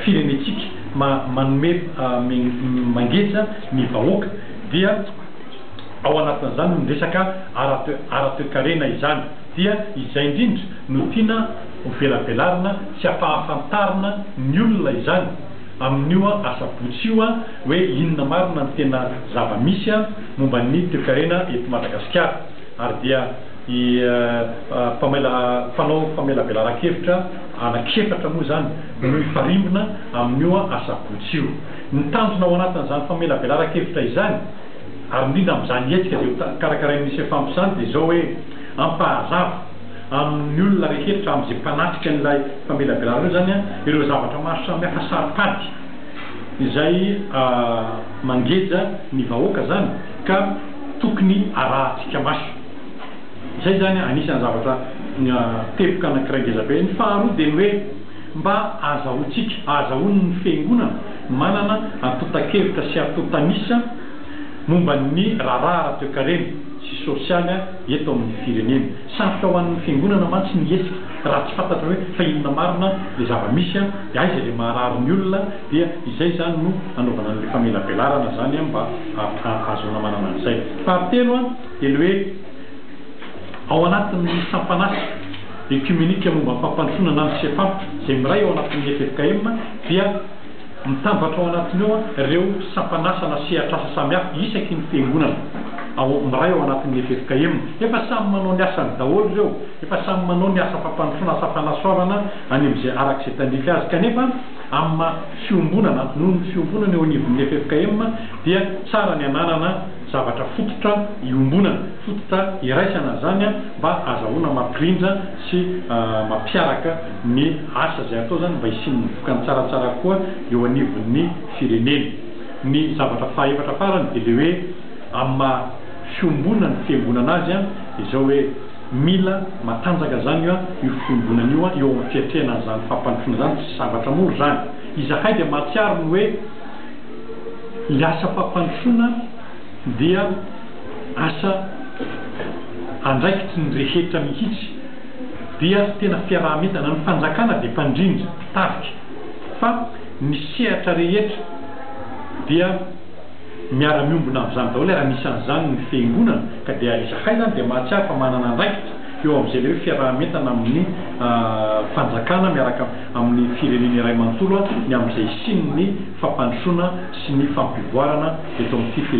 firenentsika manome mangeja ny vahoaka dia ao anatin'izany ny resaka ara-toekarena izany dia izay indrindra no tiana ho velabelarina sy ampahafantarina ny olona izany amin'io asabotsy io hoe inona marina ny tena zava-misy momba ny toekarena eto Madagasikara ary dia Ny mpamela mpanao famelabelaran-kevitra anankiefatra moa izany no hifarimbona amin'io asabotsy io. Ny tanjona ao anatin'izany famelabelaran-kevitra izany, ary indrindra amin'izany hetsika izay ho karakarain'ny Sefamp izany dia izao hoe, hampahazava amin'ny olona rehetra amin'izay mpanatrika an'ilay famelabelarana io izany ireo zavatra maro samihafa saro-pady izay mangeja ny vahoaka izany ka tokony arahintsika maso. Izay izany anisan'ny zavatra teboka anankiray ngeza be. Ny faharoa dia ny hoe mba azahoantsika, ahazahoan'ny Fiangonana manana antontan-kevitra sy antontan'isa momba ny raharaha ara-toekarena sy sosialy eto amin'ny firenena. Sarotra ho an'ny Fiangonana mantsy ny hihetsika raha tsy fantatra hoe fa inona marina ilay zava-misy, dia aiza ilay maharary ny olona, dia izay izany no anaovana an'ilay famelabelarana izany mba ahazoana manana an'izay. Fahatelo. Teny hoe ao anatin'ny sampan'asa Ekimenika momba ny fampandrosoana na ny CEPAM izay miray ao anatin'ny ffkm dia mitambatra ao anatiny ao ireo sampan'asa na sehatr'asa samihafa isaky ny fiangonana ao miray ao anatin'ny ffkm. Efa samy manao ny asany daholo ireo, efa samy manao ny asa fampandrosoana, asa fanasoavana any amin'izay araka izay tandrify azy kanefa amin'ny maha fiombonana noho ny fiombonana eo anivon'ny ffkm dia tsara ny ananana zavatra fototra iombonana, fototra iraisana zany mba azahoana mampirindra sy mampiaraka ny asa zay atao zany mba hisian'ny vokany tsaratsara koa eo anivon'ny firenena. Ny zavatra fahaefatra farany de le hoe amin'ny maha fiombonan'ny fiangonana azy de zao hoe mila matanjaka zany io fiombonana io eo amin'ny fiatrehana an'izany fampandrosoana zany, tsy zavatra mora zany. Izahay dia mahatsiaro ny hoe. Ny asa fampandrosoana dia asa andraikitry ny rehetra mihitsy, dia tena fiaraha-mientana. Ny fanjakana dia mpandrindra, mpitarika, fa ny sehatra rehetra dia miara-miombona amin'izany daholo ary anisan'izany ny fiangonana, ka dia izahay izany dia mahatsiaro fa manana andraikitra eo amin'izay ilay hoe fiaraha-mientana amin'ny fanjakana miaraka amin'ny firenena iray manontolo ny amin'izay hisian'ny fampandrosoana sy ny fampivoarana eto amin'ity